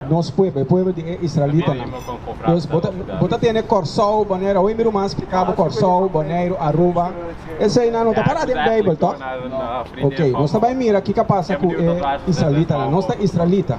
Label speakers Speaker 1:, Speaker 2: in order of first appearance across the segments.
Speaker 1: Nos pueblo, e pueblo di e israelitanan. Pues bo ta, bo ta tene Kòrsou, Boneiru, awe mi ruman splika bo Kòrsou, Boneiru, Aruba. Eseinan no ta pará den Beibel, tòg? Oke, nos ta bai mira kiko a pasa ku e israelitanan. Nos ta israelita.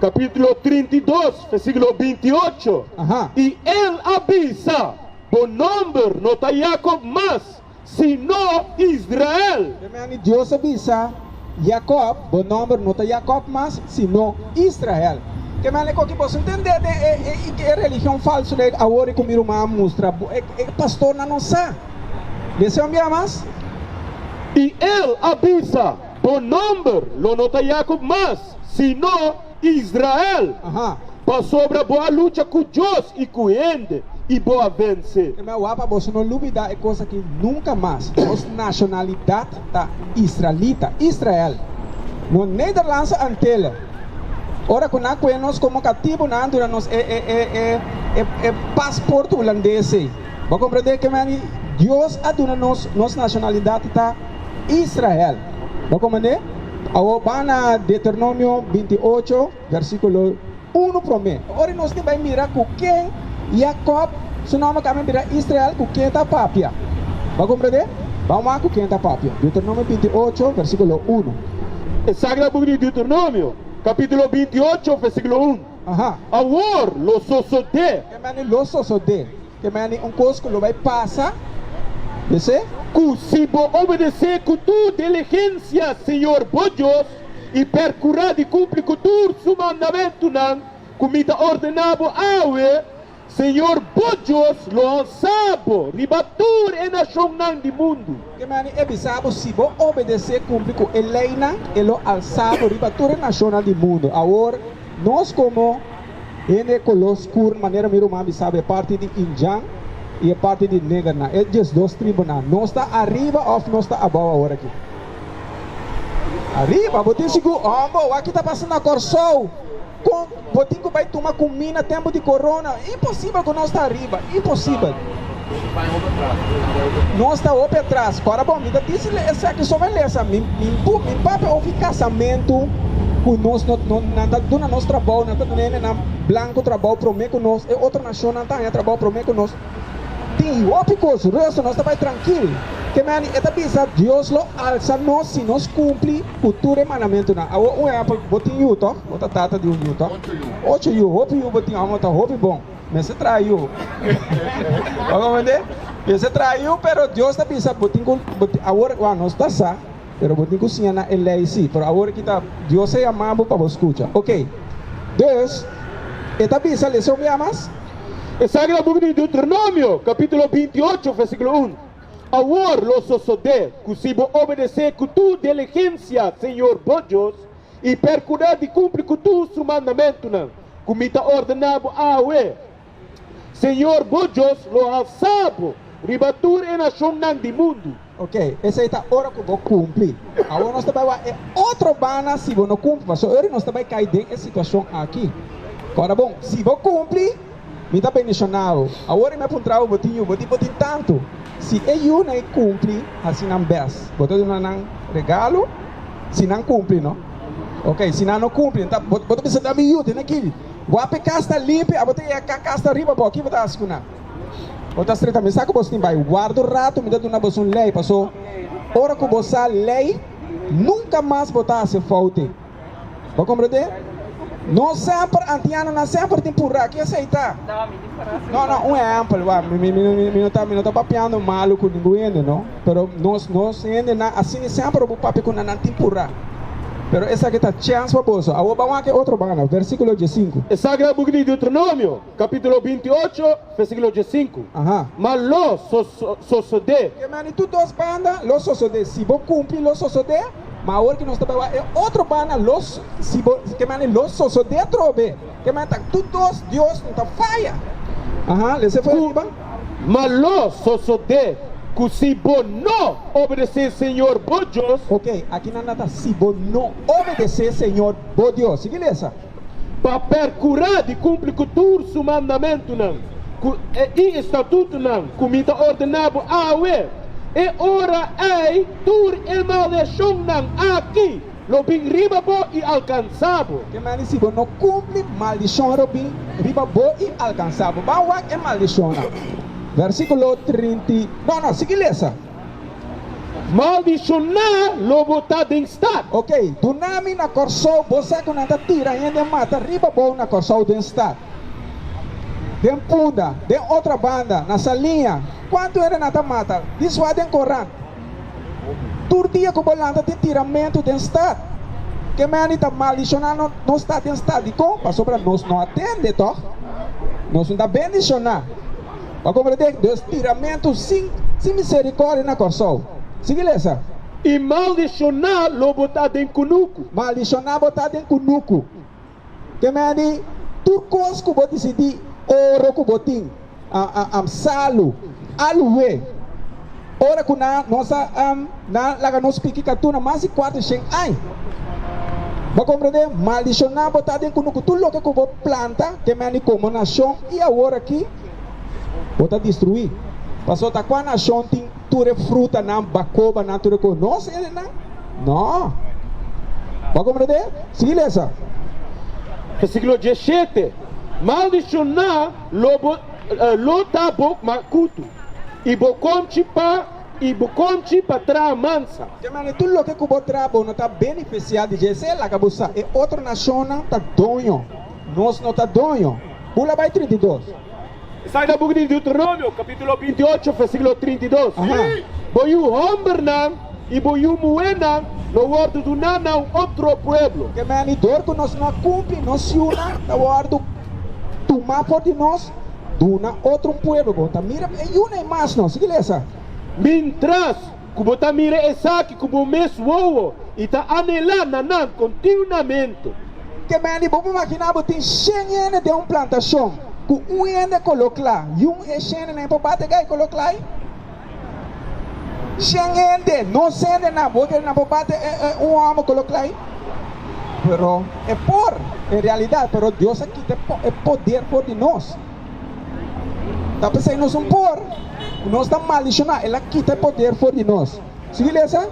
Speaker 2: capítulo trinta i dos, versículo binti ocho, Aha. i el a bisa, Bo nomber no ta Jacob mas, sino Israel. Te mende Dios a
Speaker 1: bisa Jacob, Bo nomber no ta Jacob mas, sino Israel. Te mende cu aki boso ntende den e, e, e religion falso de awor, e cu mi ruman a mustra bo, e, e pastornan no sa di ese homber mas. I
Speaker 2: el a bisa. Bo nomber lo no ta Yakob mas, sino Israel, pasobra bo a lucha ku Dios i ku hende, i bo a vense. E mehó wak pa boso no
Speaker 1: lubidá e kos akí nunka mas, Nos nashonalidat ta israelita, Israel, no Nederlandse Antille. Ora ku nan kue nos komo katibu, nan a duna nos e e pasport hulandes ei. Bo a komprendé? Kemey Dios a duna nos nos nashonalidat ta. Israel. Ta kon manera? Awor ban na Deuteronomio binti ocho, versíkulo unu promé. Ora nos tin bai mira ku ken Jakòb su nòmber a kambia a bira Israel, ku ken e ta papia. Bo a komprendé? Ban wak ku ken e ta papia. Deuteronomio binti ocho, versíkulo unu. E Sagrado
Speaker 2: Buki di Deuteronomio, kapítulo binti ocho, versíkulo un, Awor lo sosodé. Ke mane lo sosodé?
Speaker 1: E mani e un kos ku lo bai pasa, p'esei. Ku si
Speaker 2: bo obedesé ku tur diligensia Señor bo Dios i perkurá di kumpli ku tur su mandamentunan ku mi ta ordená bo awe, Señor bo Dios lo honsa bo riba tur e nashonnan di mundu. Te mane e bisa
Speaker 1: bo, Si bo obedesé kumpli ku e leinan, e lo alsá bo riba tur e nashonnan di mundu. Awor, nos komo hende di koló skur, manera mi ruman bisa bo, e parti di Injan i e parti di negernan, e diesdos tribunan, nos ta ariba òf nos ta abou awor aki? Ariba! Bo tin sigur? Hòmber, wak i ta pasa na Kòrsou? Kon bo tin ku bai tuma kumí na tempu di korona? Imposibel ku nos ta ariba, imposibel. Nos ta hopi atras. Kora bon, mi ta disi esaki so melesa, mi mi papia hopi kasamentu ku nos no no nan ta duna nos trabou, nan ta duna hende nan blanku trabou promé ku nos, e otro nashonnan ta haña trabou promé ku nos. Tin hopi cos rosa nos ta bay trankil. Ke meni e ta bisa Dios lo alsa nos si nos cumpli cu tur e mandamentunan. A hoor un ehempel, bo tin yu toh? Bo ta tata di un yu toh? Ocho yu, hopi yu bo tin, amo ta hopi bon. Mester traha yu. Bo comprende? Mester traha yu, pero Dios ta bisa bo tin cu, bo tin, a hoor, wak, nos ta sa. Pero bo tin ku siña na e lei si, pero awor e kita. Dios a yama bo pa bo skucha. Oke. Dus, E ta bisa lesa un bia mas. Esaki ta
Speaker 2: buki di Deuteronomio, kapitulo binti ocho, versíkulo un, Awor lo sosodé ku si bo obedesé ku tur diligensia Señor bo Dios, i perkudá di kumpli ku tur su mandamentunan ku mi ta ordená bo awe, Señor bo Dios lo alsa bo riba tur e nacionnan di mundu. Ok, esei ta
Speaker 1: ora cu bo cumpli. Awor nos ta bai wak e otro bana si bo no cumpli, pasobra ori nos ta bai cay den e situacion aki. Cora bon, si bo cumpli, mi ta bendiciona bo. Awor i mi a puntra bo, bo tin yu? Bo di bo tin tantu. Si e yun'ey cumpli, haci nan bes. Bo ta duna nan regalo si nan cumpli, no? Ok, si nan no cumpli, bo ta bisa, Dame yu den aki. Wap e kas ta limpi, abo ta yega ka kas ta riba bo, kibo ta hasi ku nan? Bo ta streta mi sa ku bos tin bai, warda un ratu mi ta duna bos un lei, paso ora ku bo sa lei nunka mas bo ta hasi foute. Bo komprende? No semper antiano nan semper tin pura, ki esei ta? No no un ehempel, wak, mi no ta papiando malu ku ningun hende no. Pero nos nos hendenan a singi semper obu papia ku na nan tin purá. Pero esaki ta chèns pa boso. Awor ban wak e otro banda, versíkulo die sinku. Esaki ta buki di
Speaker 2: Deuteronomio, kapítulo binti ocho, versíkulo die sinku. Aha. Ma lo sosodé. Ke mane tur dos
Speaker 1: banda lo sosodé? Si bo kumpli, lo sosodé. Ma awor ki nos ta bai wak e otro banda, lo, si bo, ke mane lo sosodé trobe? Ke man ta tu dos dios no ta faya. Ahaa lese for riba. Ma
Speaker 2: lo sosode ku si bo no obedesé Señor bo Dios. Ok, aki nan na
Speaker 1: ta si bo no obedesé Señor bo Dios. Sigui lesa. Pa
Speaker 2: perkurá di kumpli ku tur su mandamentunan ku e i estatutunan ku mi ta ordená bo awe, e ora ei tur e maldeshonnan aki Lo bin riba bo i alkansa bo. Ke mane si bo no
Speaker 1: kumpli maldishon lo bin riba bo i alkansa bo. Ban wak e maldishonnan. Vèrsikulo trinta i. No, no, sigui lesa. Maldishoná
Speaker 2: lo bo ta den stat. Oke, duna mi
Speaker 1: na Kòrsou bo sa ku nan ta tira hende en mata riba bo na Kòrsou den stat. Den punda, den otra banda, na Salinha, kuantu hende nan ta mata, di swa den korant. Tur dia ku bo lanta tin tiramentu den stat. Ke mende ta maldishoná nos ta den stat. Dikon? Pasobra nos no a tende, tòg? Nos no ta bendishoná. Bo komprendé? Dus tiramentu sin miserikòrdia na Kòrsou. Sigui lesa. I
Speaker 2: maldishoná lo bo ta den kunuku. Maldishoná bo ta
Speaker 1: den kunuku. Ke mende, tur kos ku bo disidí, oro ku bo tin, am salu. Aluwe, ora ku nan nos a am, nan laga nos piki katuna mas di kuater shen añ. Bo komprendé? Maldishoná bo ta den ku nuku. Tur loke ku bo planta, ke mende komo nashon i aworakí bo ta destruí. Pasobra ta kua nashon tin? tur e frutanan, bakobanan, tur e kos. No ser e nan. No. Bo a komprendé? Sigui lesa.
Speaker 2: Versíkulo diesete, Maldishoná lo bo, lo ta bo makutu, i bo konchi pa, i bo konchi pa traha mansa. Te manera tur loke ku
Speaker 1: bo traha bo no ta benefisiá di dje-se. Laga bo sa, e otro nashonnan ta doño, nos no ta doño. Bula bai trinta i dos. Esaki ta
Speaker 2: buki di Deuteronomio capitulo binti-ocho versiculo trinta i dos, Bo yu hombernan i bo yu muhernan lo wordu duná na un otro pueblo. Kem'e anidor ku
Speaker 1: nos no a kumpli nos yunan ta wordu tumá for di nos, duna otro un pueblo. Bo ta mira e yun'ei mas no. Sigui lesa. Mintras
Speaker 2: ku bo ta mira esaki ku bo mes wowo i ta anhelá na nan kontiunamente. Ke men
Speaker 1: di bo por maginá bo tin shen hende den un plantashon ku un hende koló kla i un e shendenan i por bate gai koló kla ei? Shen hende, nos hendenan, bo kere nan por bate un hòmber koló kla ei? Pero e por, en realidat, pero Dios a kita e poder for di nos. Ta p'esei nos un por ku nos ta maldishoná, el a kita e poder for di nos. Sigui lesa.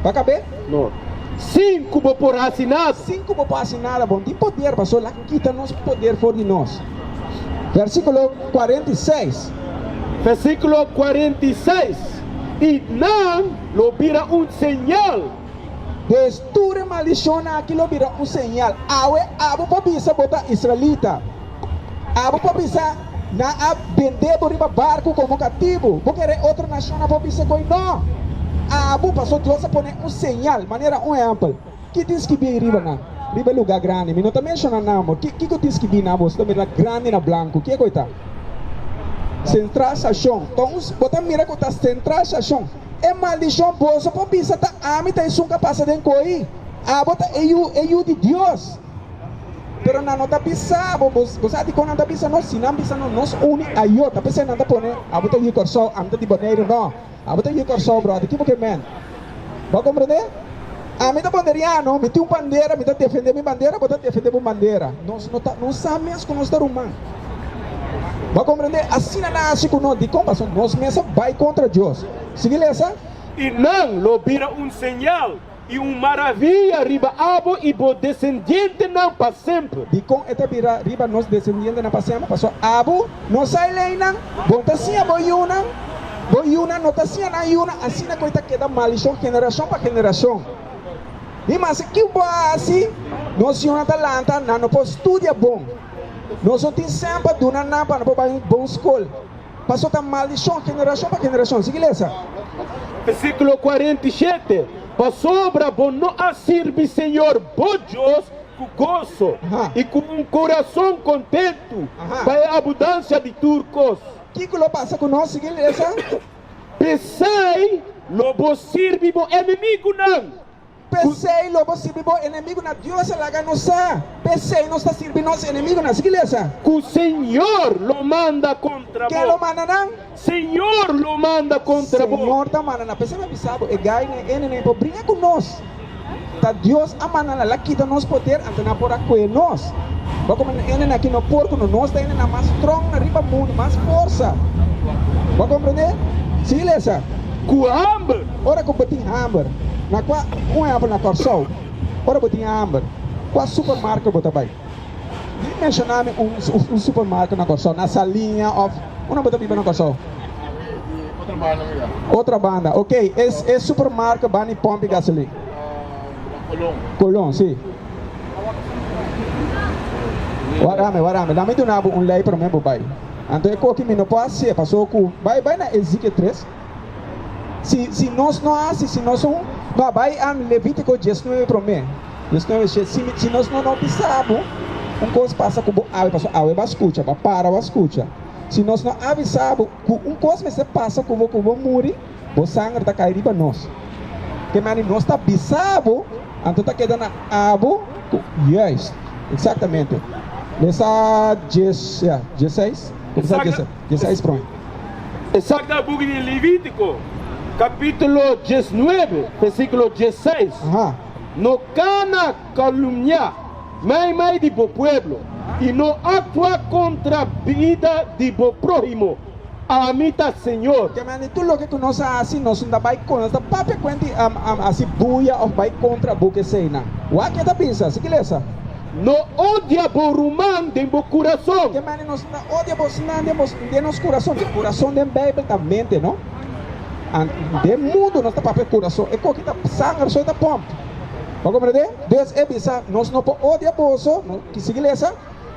Speaker 1: Bo a kab'é? No.
Speaker 2: Sin ku bo por hasi nada. Sin ku bo por hasi nada.
Speaker 1: Bo no tin poder, pastor. El a kita nos poder for di nos. Versíkulo kuarenta i seis. Versíkulo
Speaker 2: kuarenta i seis, I nan lo bira un señal. Des
Speaker 1: tur e maldicionnan aki lo bira un señal. Awe abo por bisa bo ta israelita. Abo por bisa nan a bende bo riba barcu como catibu. Bo kere e otro nacionnan por bisa koe? No! Abo paso Dios a pone un señal. Manera un ehempel, ki tin skibí ei riba nan? Riba e lugar grandi. Mi no ta menciona nomber. Kiko tin skibí nan? Bo ta mira grandi na blanco. Kiko ei ta? Central Station. Bo ta mira ku ta Central Station. E maldishon boso por bisa ta ami ta esun ka pasa den koi, abo ta e yu, e yu di Dios. Pero nan no ta bisa abo, bo bo sa dikon nan ta bisa nos? Si nan bisa nos, nos uni a yo, ta p'esei nan ta pone, abo ta yu Kòrsou, ami ta di Boneiru, no, abo ta yu Kòrsou bròda, kipo ke mèn? Bo a komprendé? Ami ta bonderiano, mi tin un bandera, mi ta defende mi bandera, bo ta defende bo bandera. Nos no ta, nos sa mes ku nos ta ruman. Bo a komprende? Asina nan hasi ku nos. Dikon paso? Nos mes a bai kontra Dios. Sigui lesa. I nan
Speaker 2: lo bira un señal i un maravia riba abo i bo desendientenan pa semper. Dikon e ta bira
Speaker 1: riba nos desendientenan pa semper? Paso abo. Nos a e leinan, Bo ta siña bo yunan, bo yunan no ta siña nan yunan, asina ku e ta keda malishon generashon pa generashon. I masha kiu bo a hasi, nos yunan ta lanta nan, no por studia bon. Nos no tin sèn pa duna nan pa nan por bai un bon skol, paso ta malishon generashon pa generashon. Sigui lesa. Versíkulo
Speaker 2: kuarenta i shete, Pasobra bo no a sirbi Señor bo Dios Ku goso i ku un kurason kontentu pa e abudansia di tur kos. Kiko lo pasa
Speaker 1: ku nos si kil resa?
Speaker 2: P'esei lo bo sirbi bo enemigunan.
Speaker 1: P'esei lo bo sirbi bo enemigunan. Dios a laga nos sa, p'esei nos ta sirbi nos enemigunan. Si kil resa? Ku Señor
Speaker 2: lo manda kontra bo. Ke lo manda nan?
Speaker 1: Señor lo
Speaker 2: manda contra bo. Señor ta manda na p'esei pa
Speaker 1: bisa bo, E gai n'e enenei por bringa cu nos. Ta Dios a manda nan la kita nos poder, anto nan por a cue nos. Bo a come n'e ene nan ki no por cu no, nos ta ene nan mas strong na riba mundu, mas forsa. Bo a comprende? Sigui lesa. Cu hamber.
Speaker 2: Ora cu bo tin
Speaker 1: hamber, na cua, un ehempel na Corsou, ora bo tin hamber, cua supermarket bo ta bay? Menshoná mi un supermarket na Kòrsou, na Saliña òf unda bo ta biba na Kòrsou? Otro banda, ok. E supermarket banda di pòmpi gasolina? Colón, si. Wara mi, wara mi. Lami duna bo un lei promé bo bai. Anto e koki mi no por a sepa, so ku bai na e zikiet tres. Si si nos no hasi, si nos un no a bai am Levítiko dies nuebe promé, dies nuebe shet, si mi si nos no no bisa bo, un kos pasa ku bo awe, paso awe bo a skucha, bo a para bo a skucha, si nos no a bisa bo ku un kos mester pasa ku bo ku bo muri, bo sanger ta kai riba nos. Te mane nos ta bisa bo, anto ta keda na abo ku Juist, eksaktamente. Lesa dies, ya, dies seis, kumsa dies. Djesa es prome. E sa ta
Speaker 2: buki di Levítiko, kapítulo dies nuebe, versíkulo dies seis, No
Speaker 1: kana
Speaker 2: kalumniá mai mai di bo pueblo, i no aktua kontra bida di bo próhimo. Ami ta Señor. Ke mende tur loke ku
Speaker 1: nos a hasi, nos no ta bai kontra, nos ta papia kuenti a hasi bulla òf bai kontra buke eseinan. Wak ke ta bisa? Sigui lesa. No
Speaker 2: odia bo ruman den bo kurason. Ke manera nos ta odia
Speaker 1: bosnan den bo den nos kurason? E kurason den Beibel ta mente, no a den mundu nos ta papia e kurason. E koki ta sanger so e ta pòmp. Bo a komprendé? Dus e bisa, nos no por odia boso, no sigui lesa.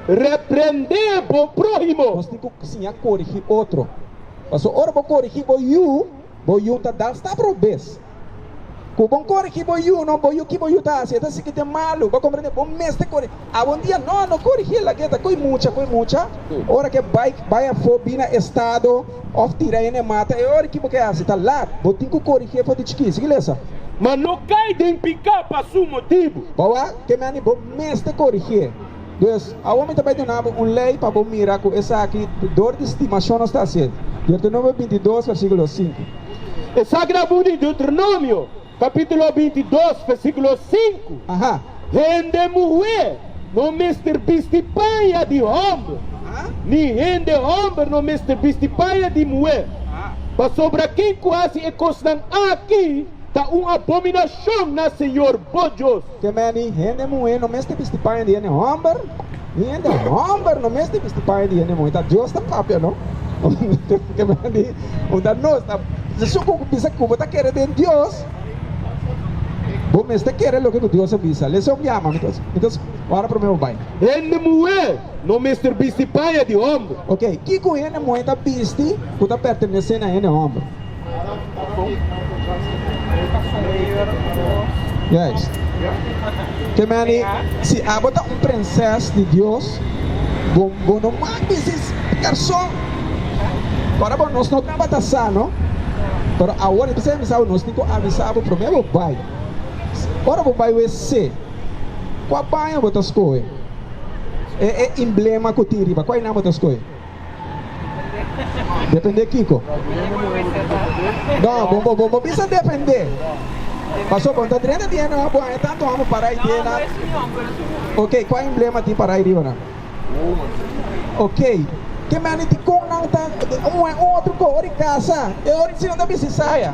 Speaker 1: Reprendé
Speaker 2: bo próhimo. Nos tin ku siña
Speaker 1: korigí otro. Pasobra ora bo korigí bo yu, bo yu ta dal stap ròkbes. Ku bon korigi bo yu no bo yu ki bo yu ta hasi e ta sigi den malu bo komprende bo mester kori abon dia no no korigil aki e ta koi mucha koi mucha ora ke bike bai afo bina estado of tira hende e mata e ora ki bo ke hasi ta laat bo tin ku korigi e for di chiki sigi lesa. Ma no kai
Speaker 2: den piká pa su motibu. Bo a kemani
Speaker 1: bo mester korigi e. Pues, awo mi ta bai duna bo un lei pa bo mira ku esaki dor di stimashon nos ta hasié. Deuteronomio binti dos, versíkulo sinku. Esaki
Speaker 2: ta buki di Deuteronomio, kapítulo binti dos, versíkulo sinku,
Speaker 1: Hende muhé
Speaker 2: no mester bisti paña di hòmber, ni hende hòmber no mester bisti paña di muhé, pasobra ken ku hasi e kosnan aki ta un abominashon na señor bo Dios. Te meni hende
Speaker 1: muhé no mester bisti paña di hende hòmber, ni hende hòmber no mester bisti paña di hende muhé. Ta Dios ta papia no. Te meni un ta nos ta su ku bisa ku bo ta kere den Dios, bo mester kere loke ku Dios a bisa. Leson di ama, mi ta ora promé bo bai. Hende muhé
Speaker 2: no mester bisti paña di hòmber. Oke, kiko hende
Speaker 1: muhé ta bisti ku ta pertenesé na hende hòmber? Juist. Te meni, si abo ta un prinses di Dios, bo bo no mag bisti persoon. Ora bo nos no tabata sa, no? Pero awor, esaki mi sa bo nos tin ku avisa bo promé bo bai. Ora bo bai wc, kua baño bo ta skohe? E e emblema ku tin riba, kua einan bo ta skohe? Depende kiko? No, bo bo bo bo bisa depende. Paso bo ta drena di hende bo haya tanto amo para y tiene na. Ok, kua emblema tin para y riba nan? Ok, ke manera di kon nan ta un un otro ko ori casa e ori si nan ta bisa saya.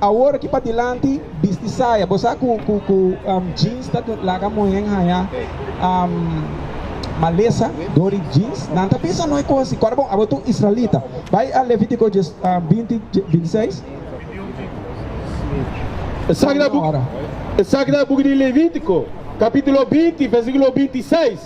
Speaker 1: Awor aki pa dilanti bisti saya, bo sa cu jeans ta laga muhen haya malesa door di jeans. Nan ta bisa noi cosi, cora bon abo tu israelita. Bay a Levitico binti bintiseis.
Speaker 2: Esaki ta buki di Levitico capitulo binti versiculo bintiseis,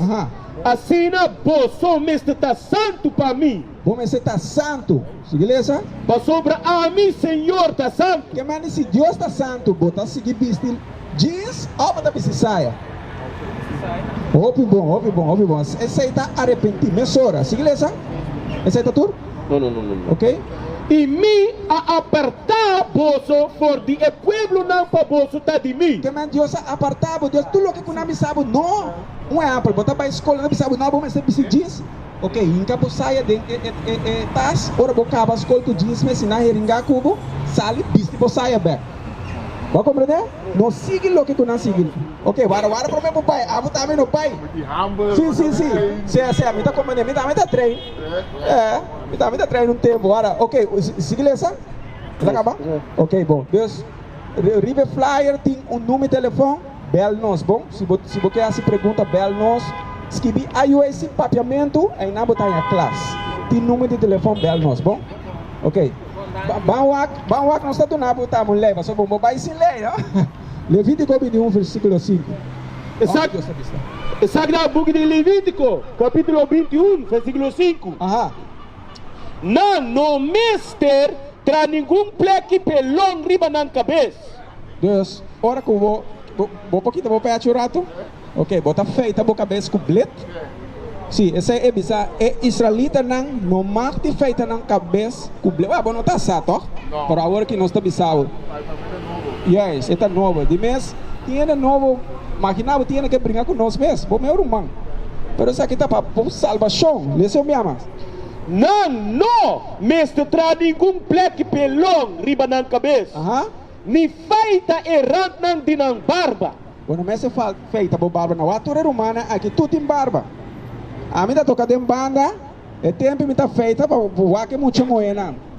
Speaker 2: Asina boso mester ta santu pa mi. Bo mester ta santu.
Speaker 1: Sigui lesa. Pasobra
Speaker 2: ami, Señor, ta santu. Ke mane si Dios ta
Speaker 1: santu, bo ta sigui bisti jeans òf bo ta bisti saya? Hopi bon, hopi bon, hopi bon. Esei ta arepenti mesora. Sigui lesa. Esei ta tur? Oke.
Speaker 2: I
Speaker 1: mi
Speaker 2: a apartá boso for di e pueblonan pa boso ta di mi. Ke mane Dios a apartá
Speaker 1: bo? Dios tur loke ku nan bisa bo no. Un ehèmpel, bo ta bai skola, nan bisa bo no, bo mester bisti jeans. Ok, hinka bo saya den e e e tas, ora bo kaba skol ku jeans mesi na heringa ku bo, sali bisti bo saya bèk. Bo a komprendé? No sigui loke ku nan sigui. Ok, wara wara promé bo bai, amo tambe no bai. Sí, sí, sí, sea sea, mi ta komprendé, mi tambe ta train, e, mi tambe ta train un tempu, wara, ok, sigui lesa? Bo ta kaba? Ok, bon, dus riba e flyer tin un nume telefòn. Bèl nos, bon? Si bo si bo ke hasi pregunta bèl nos. Skibi ayuda sin papiamentu ayina bo ta haña klas. Tin numer di telefòn bèl nos, bon? Ok. Ban wak ban wak nos ta duna bo tamo un lei pasobra bo no bai sin lei, no? Levítiko bini un versíkulo sinku. Esaki
Speaker 2: esaki ta buki di Levítiko kapítulo binti un versíkulo sinku. Aha. Nan no mester traha ningun plèki pelon riba nan kabes. Dus,
Speaker 1: ora ku bo bo por kita bo pèch un ratu? Oke, bo ta feita bo kabes ku blit? Sí, esei e bisa e israelitanan, No mag di feita nan kabes ku blit. Wèl, bo no ta sa tòg? Pero awor aki nos ta bisa bo, Yes, e ta nobo. Di mes tiene nobo, maginá bo tiene ke bringa ku nos mes, bo meu ruman. Pero esaki ta pa bo salbashon. Lesa un bia mas. Nan no
Speaker 2: mester traha ningun plèk pelon riba nan kabes, ni feita e rantnan di nan barba. Bo no mester
Speaker 1: feita bo barba na wak. Tur e rumannan aki tur tin barba. Ami ta toka den banda, e tempu mi ta feita pa wak e mucha muhénan.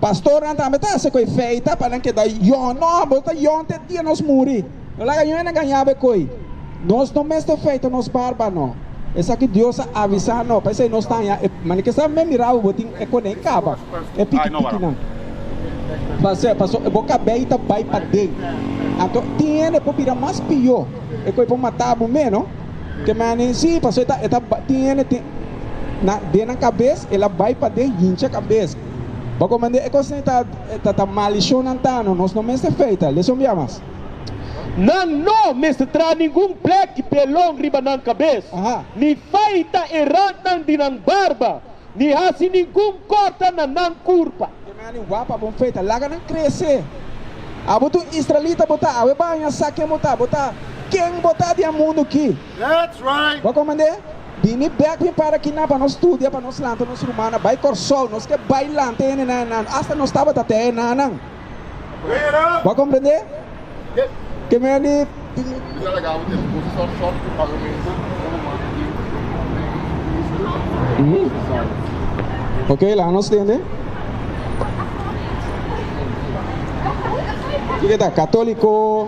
Speaker 1: Pastornan tambe ta hasi ku e feita pa nan keda yòn. No, bo ta yòn te dia nos muri. No laga yòn a gañá bo e koi. Nos no mester feita nos barba, no. Esaki Dios a avisá no. Paisei nos ta haña e manikesa. Mi mira bo, bo tin e konei kaba, e pikitikinan. Pas'e, pasobra bo kabei ta bai paden. Anto tin hende por bira mas pió. E koi por matá bo mé, no. Te menen sí, pasobra e ta, e ta bai, tin hende tin, na, den nan kabes, el a bai paden hincha kabes. Bo a komprendé? E kosnan ta, ta, ta malishonantano, nos no mester feita, lesa un bia mas. Nan
Speaker 2: no mester traha ningun blèk di belon riba nan kabes, Aha. ni feita e rantnan di nan barba. Ni hasi ningun korta na nan kurpa. Ke mea ni wak pa bo
Speaker 1: feta, laga nan krese. Abo tur israelita bo ta, awe baña, sa ken bo ta, bo ta ken bo ta den mundu ki. Bo
Speaker 2: a komand'é,
Speaker 1: Bini bèk mi para kinan pa nos studia, pa nos lanta nos rumannan bai Kòrsou. Nos ke bai lanta e nenan enan, asta nos tabata tè e nananan. Bo a komprendé? Ke mea di Ok, laga nos tende. Kiko ta katóliko?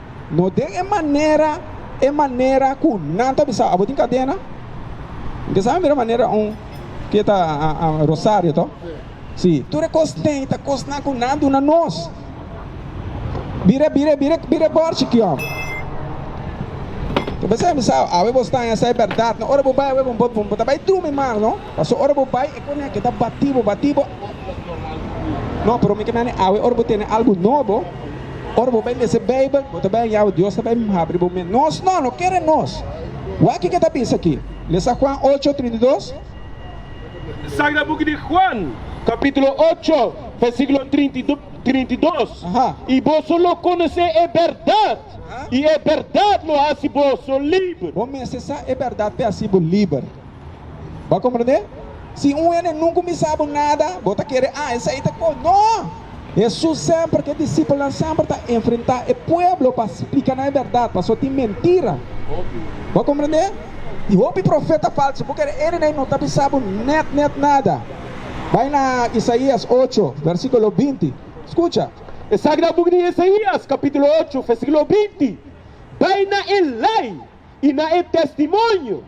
Speaker 1: No den e manera, e manera ku nan ta bisa, abo tin kadena? N ke sa mira manera un ke ta Rosario to? Si, tur e kos den ta kosnan ku nan duna nos. Bira, bira, bira, bira e bòrchi ki òm. Ta bisa e bisa, abo e bo sta na sa e bèrdat, no? Ora bo bai awe bo bo ta bai drumi mas, no? Pasobra ora bo bai e konèk e ta batí bo, batí bo. No, pero mi ke mane awe ora bo tene algu nobo. Ora bo bai lesa Beibel, bo ta bai haña awa Dios ta bai habri bo men. Nos no, no kere nos. Wak ke ta bisa aki. Lesa Juan ocho, trinta i dos.
Speaker 2: Sagra Buki di Juan, kapitulo ocho, versíkulo trinta i dos, I
Speaker 1: boso lo
Speaker 2: konosé e bèrdat, i e bèrdat lo hasi boso liber. Bo mester sa e
Speaker 1: bèrdat p'e hasi bo liber. Bo a komprendé? Si un hende nunka kuminsá bo nada, bo ta kere, ah, esei ta kon. No! Hesus semper ku e disipelnan semper ta enfrentá e pueblo pa splika nan e bèrdat, pasobra tin mentira. Bo a komprendé? I hopi profeta falsu. Bo kere ere na e no ta bisa bo nèt nèt nada. Bai na Isaías ocho, versíkulo binti. Skucha. E sagrado buki
Speaker 2: di Isaías, kapítulo ocho, versíkulo binti, Bai na e lei i na e testimonio.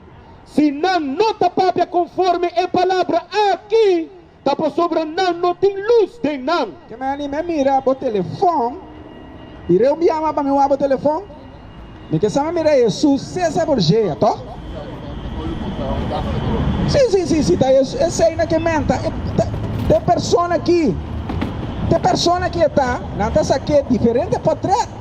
Speaker 2: Si nan no ta papia konforme e palabra aki, ta pasobra nan no tin lus den nan. Ke me anima e mira
Speaker 1: bo telefòn? I reu mi yama pa mi wak bo telefòn? Mi ke sama mira Hesus Cesar Borgea, tò? Sí, sí, sí, sí, ta Hesus. Esei na ke menta, e ta, te persona ki, te persona ki e ta, nan ta sa ke diferente potret.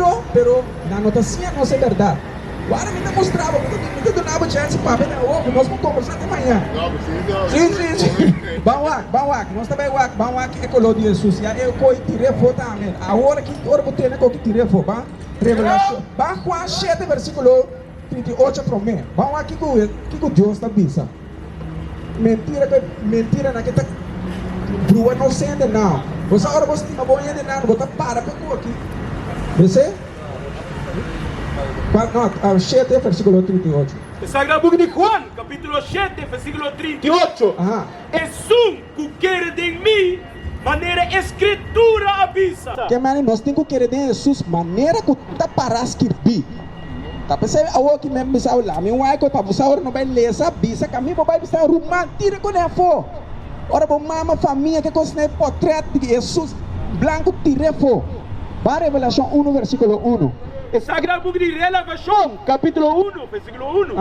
Speaker 1: Lo, pero nan no ta siña nos e bèrdat. Wara mi ta mustra bo, mi ta duna bo chènsi papia den ogu, nos por kòmbersá te maña. Sí, sí, sí. Ban wak, ban wak, nos ta bai wak, ban wak e koló di Hesus, ya e koi tir'é fo ta amel. Awor aki, ora bo tene koki tir'é fo, ban, Revelashon, ban Juan shete, versikulo. Tinti oca promé. Bou a kiko wet kiko Dios ta bisa. Mentira pe mentira na ke ta bruwa no sende nao. Bo sa ora bo stima bo hende nan bo ta para pe koki besé pa no a shete versikulo trinta i ocho. E sagrado buki di
Speaker 2: Juan kapitulo shete versikulo trinta i ocho esun Ku kere den mi, manera e Skritura a bisa. Ke manera nos tin ku
Speaker 1: kere den Hesus, manera ku ta pará skirbí? Ta p'esei awor aki mi a bisa bo, Lami un waiko pa bo sa ora no bai lesa, bisa ka mi bo bai bisa ruman, tira kuné afó. Ora bo mama famia ke kos n'e potrèt di Hesus blanku tir'é afó. Bai Revelashon unu, vèrsikulo unu. E Sagrado Buki di
Speaker 2: Relavashon, kapítulo unu, vèrsikulo unu.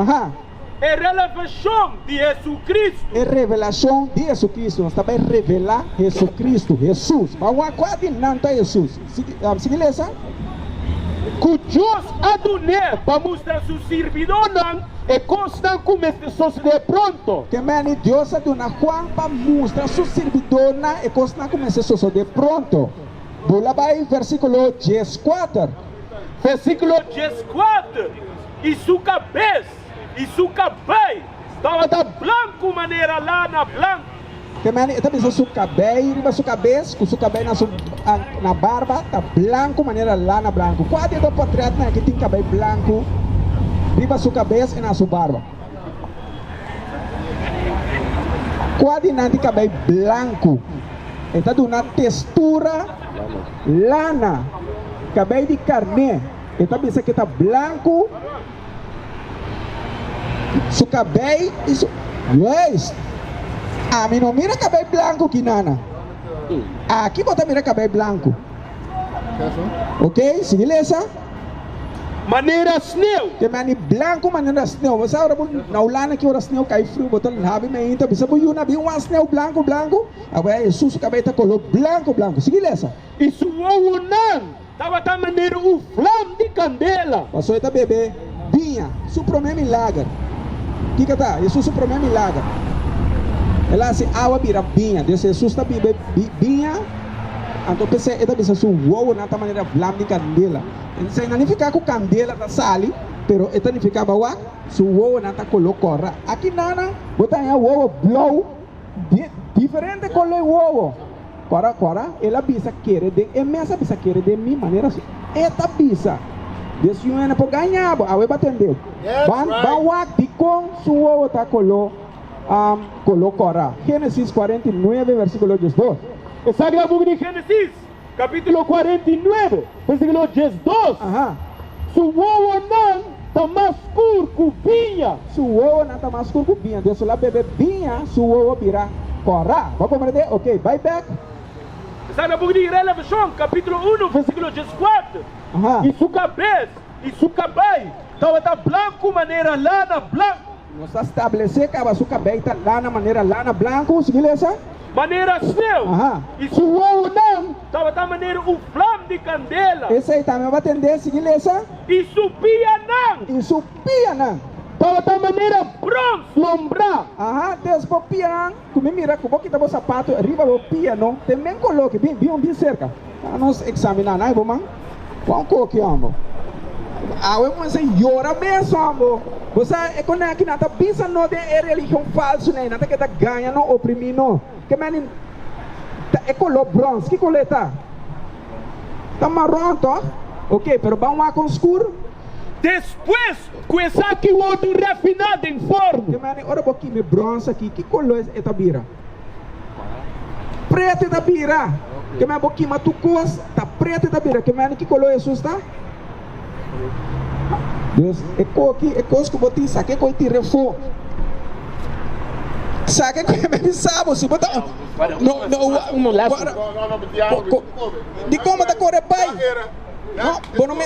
Speaker 2: E
Speaker 1: relevashon
Speaker 2: di Hesukristu. E revelashon
Speaker 1: di Hesukristu, nos ta bai revelá Hesukristu, Hesus. Bo a wak kua di nan ta Hesus. Sigui lesa. Ku
Speaker 2: Dios a dun'é pa mustra su sirbidónan e kosnan ku mester sosodé pronto. Ke manera Dios
Speaker 1: a duna Juan pa mustra su sirbidónan e kosnan ku mester sosodé pronto? Bula bai vèrsikulo dieskuater. Vèrsikulo
Speaker 2: dieskuater. i su kabes i su kabei tabata blanku manera lana blanku. Te mane e ta
Speaker 1: bisa su kabei riba su kabes ku su kabei na su na barba ta blanku manera lana blanku. Kua di e dos potrètnan ki tin kabei blanku riba su kabes i na su barba? Kua di nan tin kabei blanku? E ta duna testura lana, kabei di karné. E ta bisa ku e ta blanku, su kabei i su Luis, ami no mira kabei blanku aki nana. Aki bo ta mira kabei blanku. Ok, sigui lesa.
Speaker 2: Manera sneu. Te mani blanku
Speaker 1: manera sneu. Bo sa ora bo na Hulanda aki ora sneu kai friu, bo ta labi mei inta bisa bo yuna bin wan sneu blanku blanku. Awe Jesus su kabei ta kolor blanku blanku. Sigui lesa. I su wowonan.
Speaker 2: Tabata manera un flam di candela. Paso e ta bebe
Speaker 1: biña. Su prome milager. Kico ta Jesús su prome milager? El a haci awa bira biña. Desde Jesús ta bebe biña, anto p'esey e ta bisa su wowonan ta manera flam di candela. Esey no nifica cu candela ta sali, pero e ta nifica, Bawak, su wowonan ta color cora. Aki nanan bo ta haña wowo blauw. di diferente color wowo cuara cuara el a bisa kere den e mes a bisa kere den mi manera así e ta bisa di e siñor ene por gaña bo awe ba tende ban ban wak dikon su wowo ta color um color cuara Génesis cuarenta y nueve versículo diesdos. Esaki ta
Speaker 2: buki di Génesis. Capítulo cuarenta y nuebe, versículo diesdos, Aha.
Speaker 1: Su
Speaker 2: wowonan ta mas scur cu biña. Su wowonan ta
Speaker 1: mas scur cu biña. Dios a la bebe biña, su wowo bira cora. Bo a coma na idea? Oke, bai bek.
Speaker 2: Sta na book di Relevacion, capítulo uno, versículo
Speaker 1: diescuater,
Speaker 2: Aha.
Speaker 1: Y su cabes
Speaker 2: y su cabai tabata blancu manera lana blancu. Nos a stablesé
Speaker 1: kaba su kabei ta lana manera lana blanku, sigi lesa. Manera sneu,
Speaker 2: i su
Speaker 1: wowonan
Speaker 2: tabata manera un flam di kandela. Esei tambe bo a tendé,
Speaker 1: sigi lesa. I su
Speaker 2: pianan. I su pianan.
Speaker 1: Tabata manera
Speaker 2: brons lombrá. Aha, des bo
Speaker 1: pianan. Cu mi mira cu bo kita bo sapato riba bo pia no te men coloque, bin, bin, bin cerca pa nos examina, nai bo man cu un coki hombo, awe bo mester yora mes hombo, bo sa e coneki nan ta bisa no den e religion falso ne, nan ta keda gaña no, oprimi no, ke men ni ta e color bronze, ki color e ta? ta marron toch? ok pero ban wak con scuro. Despues
Speaker 2: Cu esaki wordo refiná den forno. Ke mane ora bo kime
Speaker 1: bronce aki, ki color e ta bira? Preto e ta bira. Ke mane bo kima tur cos, ta preto e ta bira. Ke mane, ki color Jesús ta? Dios. E coki, e cos cu bo tin, sa ke cu e tira e fo. Sa ke cu e mane sa bo, si bo ta un. No, no, wa, wa, ra, co, co, di como ta core bay? No, bo no me.